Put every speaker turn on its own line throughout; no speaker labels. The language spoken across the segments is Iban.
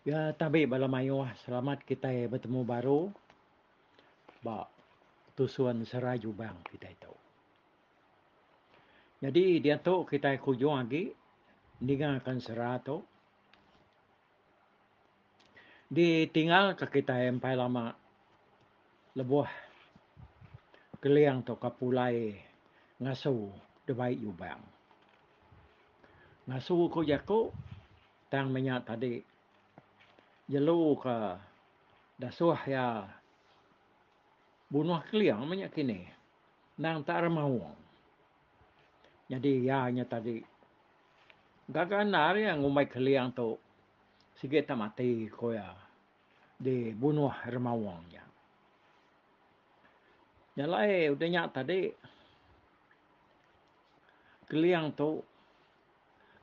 Ya tabi bala mayuh selamat kitai betemu baru ba tusun serai jubang kitai tu. Nyadi diatu kitai ke ujung agi ningakan sera tu ditinggalka kitai empai lama lebuh Keling tu ka pulai ngasu dibai jubang. Ngasu ku jaku. Tang menya tadi, jelu ke dasuh iya bunuh Keling menya kini endang tak ra maung. Nyadi iya nya tadi gaga endar iya ngumbai Keling tu sigi tak mati ku iya dibunuh Ra Maung nya. Nya alai udah nya tadi, Keling tu.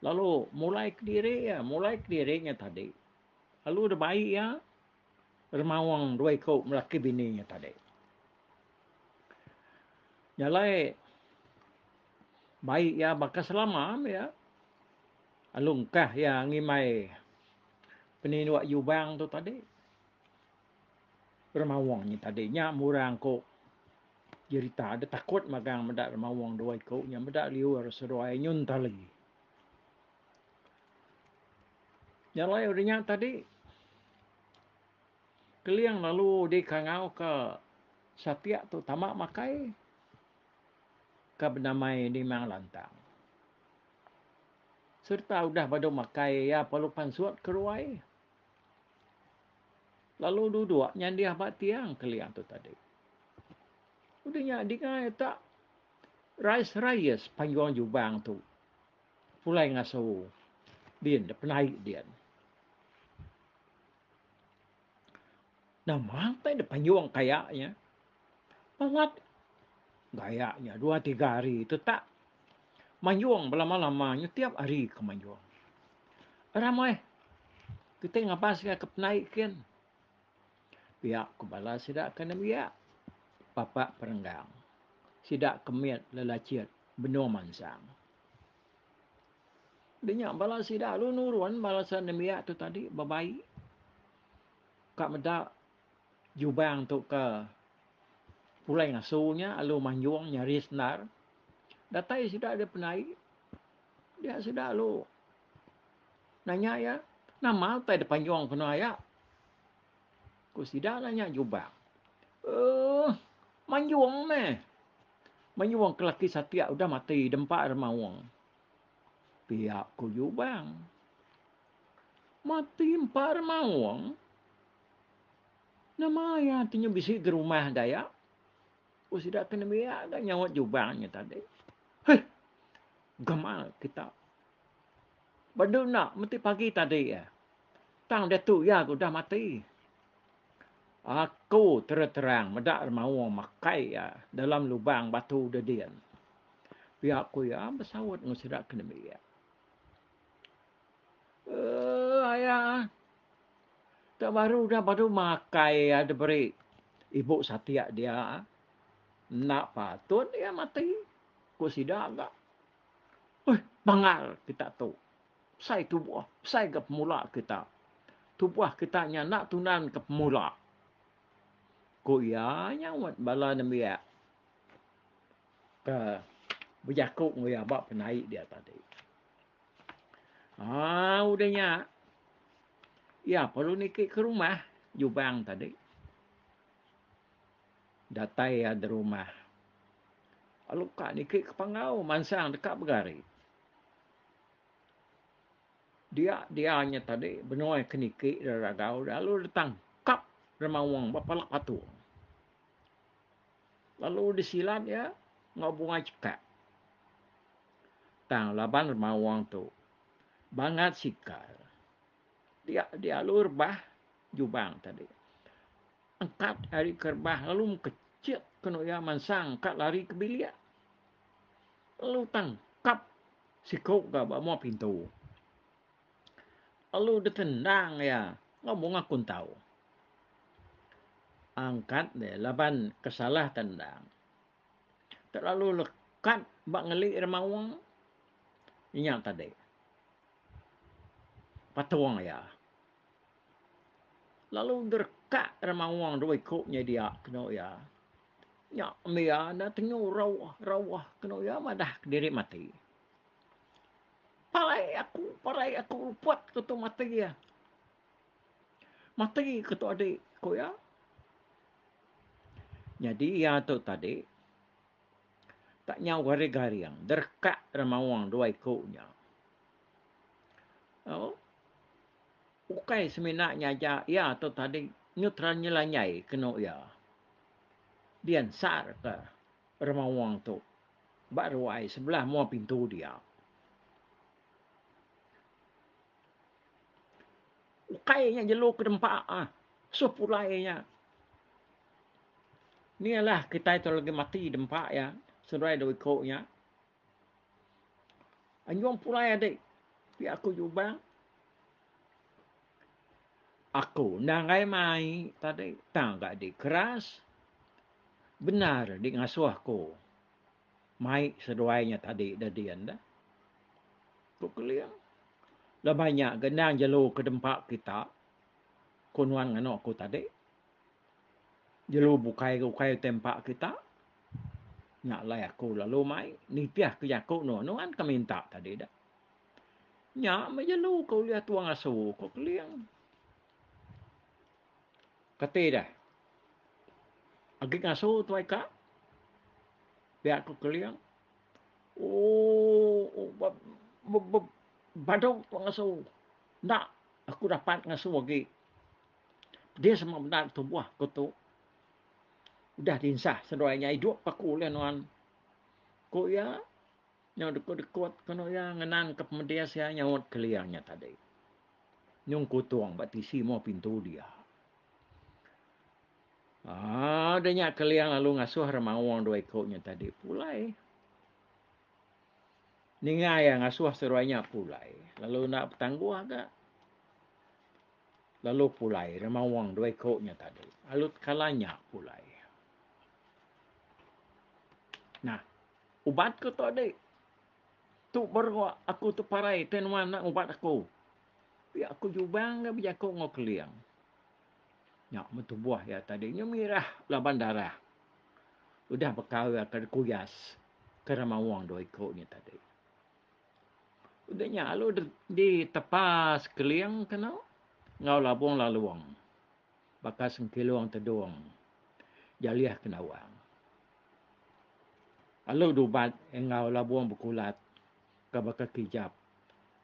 Lalu mulai kediri iya, mulai kediri nya tadi. Lalu udah bayi iya remaung dua iku laki bini nya tadi. Nyalai bayi iya baka selama iya. Lalu engkah iya ngimai peninduk jubang tu tadi. Remawong nya tadi nya murang aku jerita deh takut magang meda remawong dua iku nya meda liur seduai nyun tali. Nya alai udah nya tadi keling lalu dikangau ke satik tu tama makai ke benamai Nimang Lantang. Serta udah badu makai iya perlu pansut ke ruai. Lalu duduk nyandih ba tiang kelia tu tadi. Udah nya dingai tak Rais Rayes panjung jubang tu. Pulai ngasu. Din, dia penai din. Nama tak dia panjung kayaknya? Balat gayak nya dua tiga hari tetak manjung belama lama nya tiap hari ke manjung. Ramai kitai ngabas iya ke penai kin. Pia ku bala sida ke nembiak papa perenggang. Sida ke mit lelachit benung mansang. Di nya bala sida lalu nurun bala sida nembiak tu tadi bebai ka meda jubang tu ke pulai ngasu nya lalu manjung nyari sendar datai sida ari penai dia sida lalu nanya iya nama utai da panjung kena iya ku sida nanya jubang um manjung meh manjung ke laki satik udah mati da empa ra maung pia ku jubang mati empa ra maung Nama iya ti nya bisi ga rumah gaya? Ku sida ke nembiak ga nyaut jubang nya tadi. Heh! Gama kita. Ba du enda meti pagi tadi iya. Tang diatu iya ga udah mati. Aku terang-terang meda remaung makai iya dalam lubang batu dedin. Pia ku iya besaut enggau sida ke nembiak. Eeh aya ah. Enda baru udah baru makai iya diberi ibu satik dia. Enda patut iya mati, ku sida ga. Uih bangal kita tu. Besai tubuh, besai ga pemula kita. Tubuh kita nya enda tunan ke pemula, ku iya nyaut bala nembiak ke bejaku enggau iya ba penai dia tadi. Ah, udah nya. Ya, perlu niki ke rumah Jubang tadi. Datai ya di rumah. Lalu kak niki ke panggau mansang dekat begari. Dia dia nya tadi benoi ke niki dari ragau lalu datang kap remawang bapalak patu. Lalu disilat ya ngau bunga cekak. Tang laban remauang tu bangat sikal dialu rebah jubang tadi. Angkat ari ke rebah lalu mekecek ke nuk iya mansang angkat lari ke bilik. Lalu tangkap siku ga ba mua pintu. Lalu ditendang iya ngau bunga kuntau. Angkat deh laban kesalah tendang. telalu lekat ba ngeli ira maoh inya tadi patong iya lalu derekak ira maoh dua iku nyadi dia kenu iya nya mbe iya enda tengu rau rau kenu iya madah diri mati parai aku parai aku luput ku tu mati iya Mati ke tu adik, ku iya. Nyadi iya tu tadi tak nyau garing-garing, derekak dalam mawang dua iku nya. Oh. Ukai semina nya aja iya tu tadi nyutra nyelanyai kenu iya. Diansar ke remawang tu ba ruai sebelah mua pintu dia. Ukai nya jelu ke dempa ah suh pulai nya. Ni alah kitai tu lagi mati dempa iya seduai dua iku nya. Anjung pulai adi pia aku Jubang. Aku enda enggai mai tadi tang ga di keras bendar di ngasuh aku. mai seduai nya tadi da din da, ku Keling. Laban nya ga endang jelu ke dempa kita, ku nuan nganu aku tadi. Jelu bukai ga ukai utai empa kita. Nya alai aku lalu mai nitih ke jaku nuan nuan ke minta tadi da. Nya meh jelu ke ulih tua ngasu, ku Keling. Kati deh. Agi ngasu tuai ka. Pia ku Keling. Ooh badung tuai ngasu. Enda aku dapat ngasu agi. Pedis amat benda da tubuh aku tu. Udah dinsah seduai nya idup aku ulih nuan. Ku iya. Nyau dekut-dekut ke anu iya ngenanka pemedis iya nyaut kelia nya tadi. Nyung kutung ba tisi mua pintu dia. Ah, udah nya kelia lalu ngasuh remaung dua iku nya tadi pulai. Ninga iya ngasuh seruai nya pulai, lalu enda betangguh ga. Lalu pulai remaung dua iku nya tadi. Alut kala nya pulai. Nah, Ubat ku tok dik. Tu baru aku teparai teh nuan enda ngubat aku. Pia aku jubang ga bejaku enggau Keling. Nya mun tubuh iya tadi nya mirah laban darah. Udah bekau iya ke dikuyas ke remaung dua iku nya tadi. Udah nya lalu ditepas Keling kenu enggau Labong Lalong. baka sengkilung tedung jalih ke nawang. Alu dubat enggau labung bekulat ke baka kijap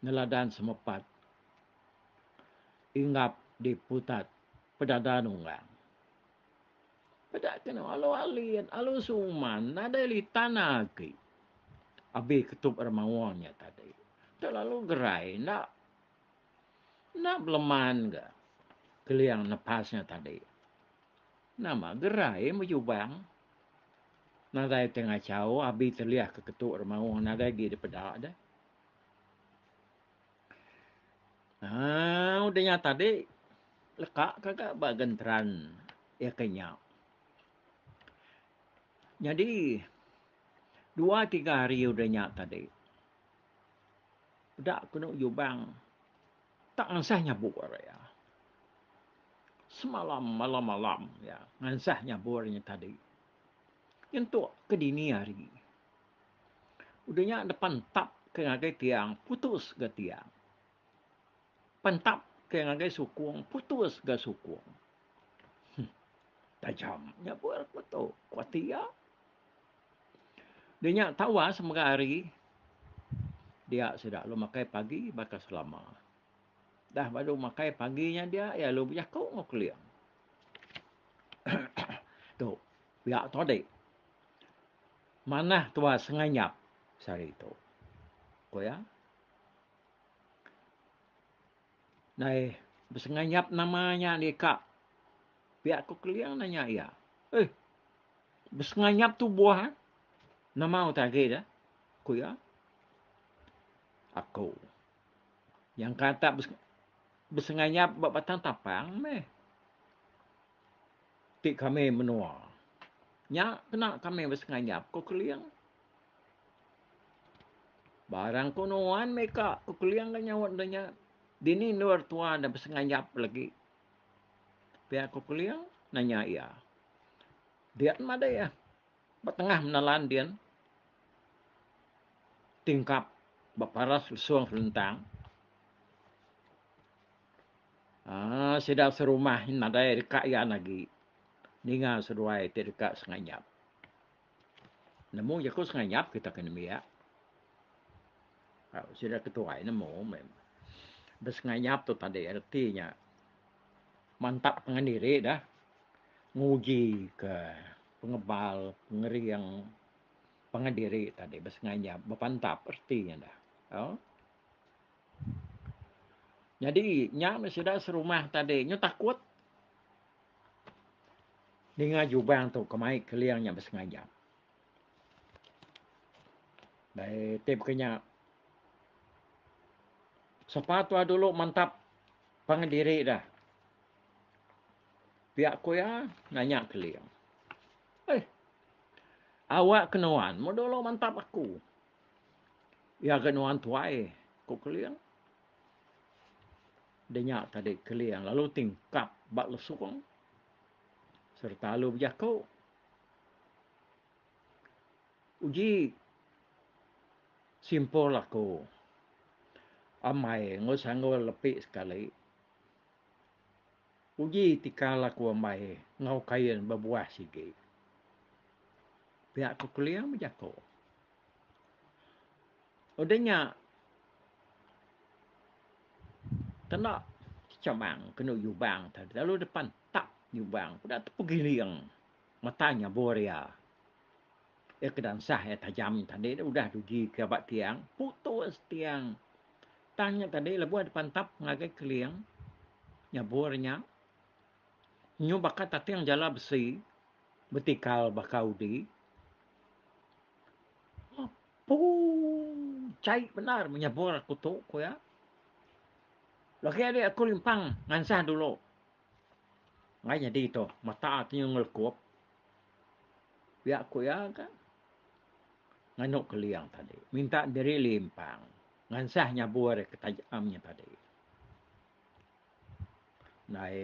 neladan semepat inggap di putat pedada nunggang. Peda ke nau alu alin, alu suman nadai litan agi abi ketup remauang nya tadi. Tu lalu gerai enda. Enda beleman ga Keling nepas nya tadi. Nama gerai bejubang. Nadai ti ngachau abi telih ke ketu ri maung nadai agi dipeda deh. Haa udah nya tadi leka ka ga ba genteran iya ke nya. Nyadi dua tiga hari udah nya tadi. Peda kenu Jubang tak ngansah nyabur ari iya. Semalam malam-malam iya ngansah nyabur inya tadi. Nyentuk ke dini hari. Udah nya dep pantap ke ngagai tiang putus ga tiang. Pantap ke ngagai sukung putus ga sukung. Heh. Tajam nyabur ku tu, ku ati iya. Dia nya tawas mega hari dia sida lalu makai pagi baka selama. Dah baru makai pagi nya dia iya lalu bejaku enggau Keling. tu pia tu adi. Manah tua senganyap sehari tu. Ko iya. Nai besenganyap nama nya deka pia ko Keling nanya iya. Eh. Besenganyap tu buah eh. Nama utai agi deh? Ku iya. Aku. Yang kata besenganyap ba batang tapang meh. Ti kami menua. Nya kena kami besenganyap ku Keling. Barang ku nuan meh ka, ku Keling ke nyaut deh nya. Dini endor tua enda besenganyap lagi. Pia ku Keling nanya iya. Din madai ah. Ba tengah menelan din tingkap beparas lesung selentang. Ah, sida serumah nadai deka iya agi ninga seduai ti deka senganyap. Nemu jaku sengayap kita ke nembiak. Sida ke tuai nemu meh. Besengayap tu tadi reti nya mantap pangan diri dah. Nguji ke pengebal, pengering pangan diri tadi besengayap. Bepantap reti nya dah. Au. Nyadi nya meh sida serumah tadi nyu takut. Ninga jubang tu kemai keling nya besengaja. Dai ti baka nya sapa tuah dulu mantap pangan diri dah. Pia ku iya nanya keling. Eh. Awak ke nuan meh dulu mantap aku. Iya ga nuan tuai, ku keling. Denya tadi Keling lalu ti engkap ba lesung sereta lalu bejaku, Uji simpul aku ambai enggau sanggul lepi sekali. Uji tikal aku ambai enggau kain bebuah sigi. Pia ku Keling bejaku. Udah nya kena kecamang kenu nyubang tadi lalu depan tak nyubang udah tu pegiling mata nya boria. Ia ke dansah ia tajam tadi udah dugi ke ba tiang putus tiang. Tang nya tadi lebuh depan tap ngagai keling nyabur nya nyu baka tating jala besi. Betikal baka udi, apu chai bendar menyebur aku tu, ku iya. Lagi ari aku limpang ngansah dulu. Ngai nyadi tu, mata ti nyau ngelekup. Pia ku iya ka, nganu keling tadi. Minta diri limpang ngansah nyebur ke taja am nya tadi. Nai.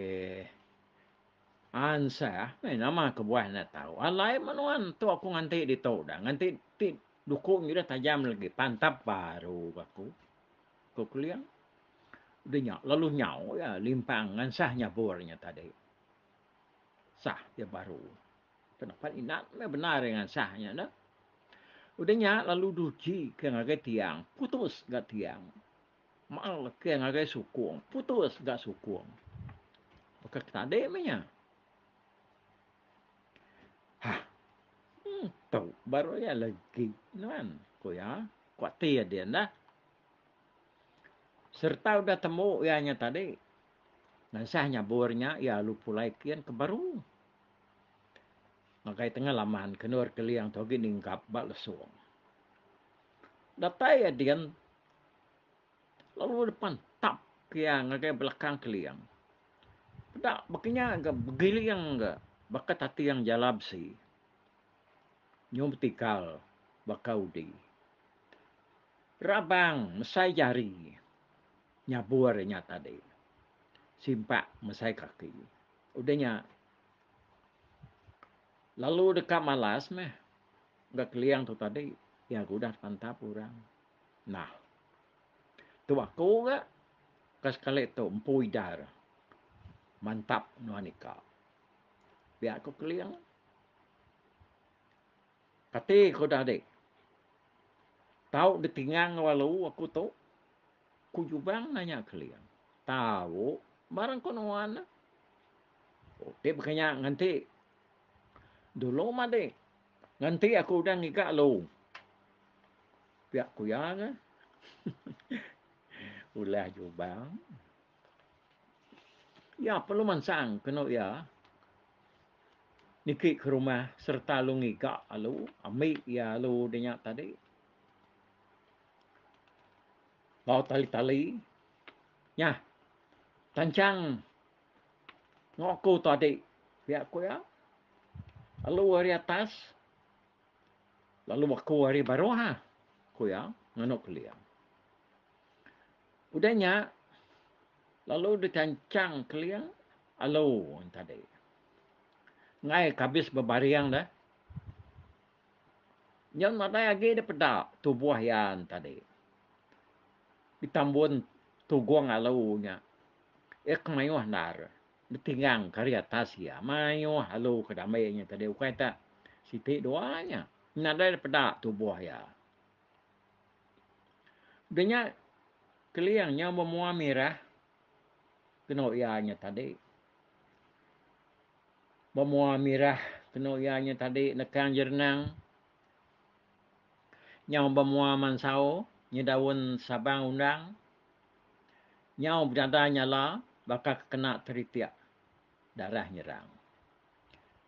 Ansah, meh nama kebuah enda tau. Alai meh nuan tu aku nganti ditu dah. Nganti ti duku nyu dah tajam legi pantap baru ke aku. Ko Keliang. Udah nya lalu nyau iya limpang ngansah nyabur nya tadi. Sah iya baru. Kena pan inat meh bendar iya ngansah nya dah. Udah nya lalu duchi ke ngagai tiang, putus ga tiang. Maang leke ngagai sukung. Putus ga sukung. Baka ke tadi meh nya. Ha. Hmm, tu baru iya legi nuan, ku iya. Kuatir din dah. Sereta udah temu iya nya tadi. Nansah nyabur nya iya alu pulai kin ke baru. Ngagai tengah laman kenur keling tu agi ninggap ba lesung. Datai iya din Lalu depan tap kia ngagai belakang keling. Peda baka nya ga begiling ga baka tating jala besi. Nyu betikal baka udi. Rabang mesai jari nyabur inya tadi. Simpak mesai kaki. Udah nya lalu deka malas meh ga keling tu tadi iya ke udah depan tap orang. Nah. Tu aku ga ka sekali tu empu idar. Mantap nuan ika. Pia aku keling. Kati ku udah dik. Tau ditingang lalu aku tu. Ku Jubang nanya keling. Tau barang ku nuan. Ti baka nya nganti dulu madik. Ngenti aku udah ngiga lu. Pia ku iya ke. Ulah jubang. Iya perlu mansang kenu iya niki ke rumah serta lu ngiga alu, ambi iya alu de nya tadi. Bau tali-tali. Nyah. Tanchang. Enggau aku tu adik. Pia ku iya. Lalu ari atas. Lalu aku ari baruh ha. Ku iya. Nganu kelia. Udah nya. Lalu dikanchang kelia. Alu tadi. Ngai kabis bebaring dah. Nyan nadai agi dia peda tubuh iya tadi. Di tambun tugung alu nya. Iya ke mayuh endar betinggang ke ari atas iya. Mayuh lalu ke diambil inya tadi ukai tak siti dua inya. Nadai da peda tubuh iya. Udah nya Keling nya memua mirah kenu iya nya tadi. Memua mirah kenu iya nya tadi nekang jerenang. Nyau bemua mansau nyedaun sabang undang. Nyau bedadai nyala baka ke kena teritik darah nyerang.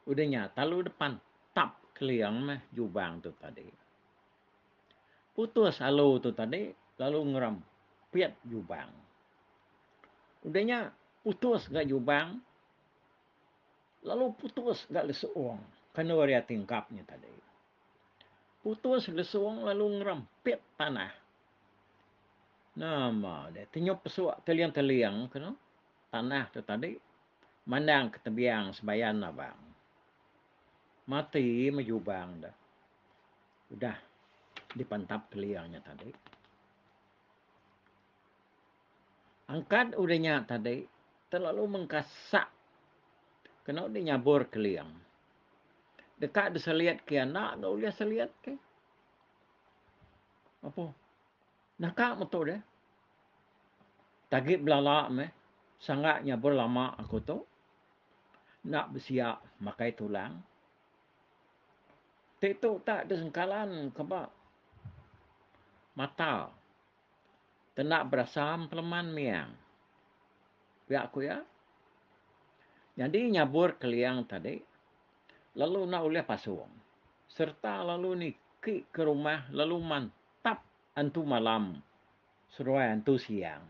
Udah nya talu depan tap keling meh jubang tu tadi. Putus alu tu tadi lalu ngerem pit jubang. Udah nya putus ga jubang lalu putus ga lesung kenu ari ati enggap nya tadi. Putus lesung lalu ngerem pit tanah. Nama deh tenyup pesuk teling-teling ke no tanah tu tadi mandang ke tebiang sebayan abang. Mati me jubang de udah dipentap teling nya tadi. Angkat udah nya tadi terlalu mengkasak keno di nyabur keling. Deka diselit ke enda ulih selit ke. Apo? Naka metu deh. Tagit belala meh. Sangga nyabur lama aku tu. Enda besia makai tulang. Ti tu tak di sengkalan ke ba mata. Tenda berasam peleman miang. Pia ku iya. Nyadi nyabur keliang tadi. Lalu enda ulih pasung. Serta lalu niki ke rumah lalu mantap antu malam seduai antu siang.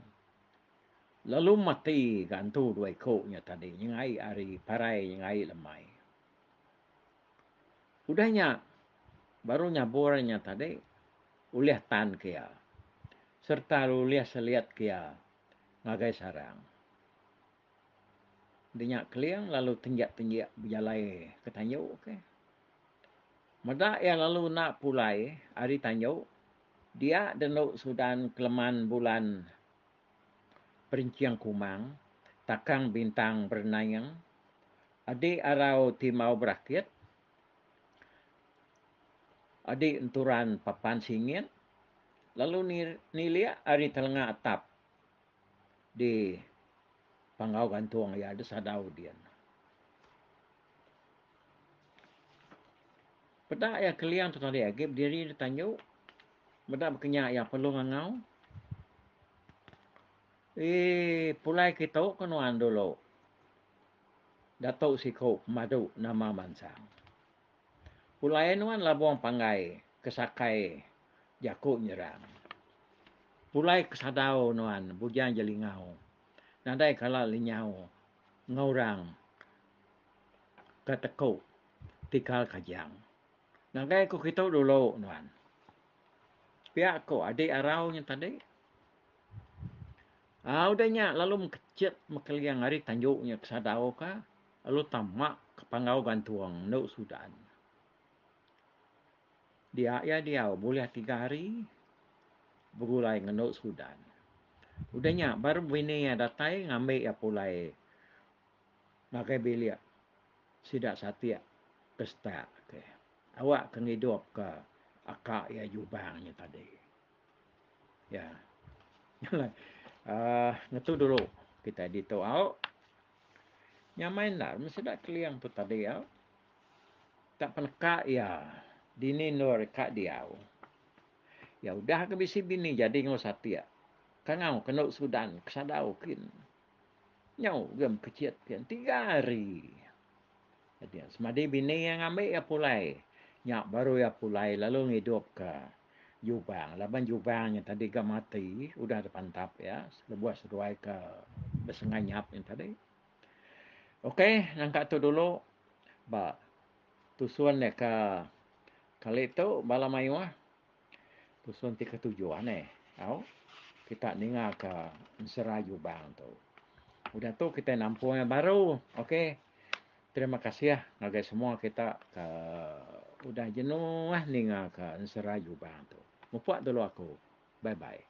Lalu mati ga antu dua iko nya tadi nyengai ari parai nyengai lemai. Udah nya baru nyabur nya tadi ulih tan ke iya serta ulih selit ke iya ngagai sarang. Denya Keling lalu tenjek-tenjek bejalai ke tanju ke. Meda iya lalu enda pulai ari tanju, dia dendu sudan keleman bulan perincing kumang, takang bintang berenaing, adi arau ti mau berakit, adi enturan papan singit lalu nilik ari telenga atap. di panggau gantung iya di sadau din. Peda iya keling tu tadi agi bediri di tanju meda baka nya iya perlu ngangau. Eh pulai ke tu ke nuan dulu. Datuk siku pemadu nama mansang. Pulai nuan labong panggai ke sakai jaku nyerang. Pulai ke sadau nuan bujang jelingau nadai kala lenyau ngaurang ke teku tikal kajang. Ngagai ku kitu dulu nuan. Pia ku adi arau nya tadi. Au deh nya lalu mekechit mekeling ari tanju nya ke sadau ka. Lalu tama ke panggau gantung endo sudan. Dia iya diau bulih tiga hari begulai ngan endo sudan. Udah nya baru bini iya datai ngambi iya pulai ngagai bilik sida satik ke stat ke awak ke ngidup ke aka iya jubang nya tadi. Iya. Nya alai aaa ngetu dulu kitai ditu au Nyamai endar meh sida Keling tu tadi iya. Ka peneka iya dini endur ka diau. Iya udah ke bisi bini jadi enggau satik. Kangau ke enda sudan ke sadau kin. Nyau gem kecit kin tiga hari. Nya semadi bini iya ngambi iya pulai. Nya baru iya pulai lalu ngidupka Jubang laban Jubang nya tadi ga mati udah dipantap iya lebuh seduai ke besenganyap nya tadi. Ok nangka tu dulu ba tusun deka kali tu bala mayuh. Dusun ti ketuju anih tau kita ninga ka ensera jubang tu. Udah tu kita nampung yang baru. Ok. Terima kasih ngagai semua kita ka udah jenuh ninga ka ensera jubang tu. Mupok dulu aku. Bye bye.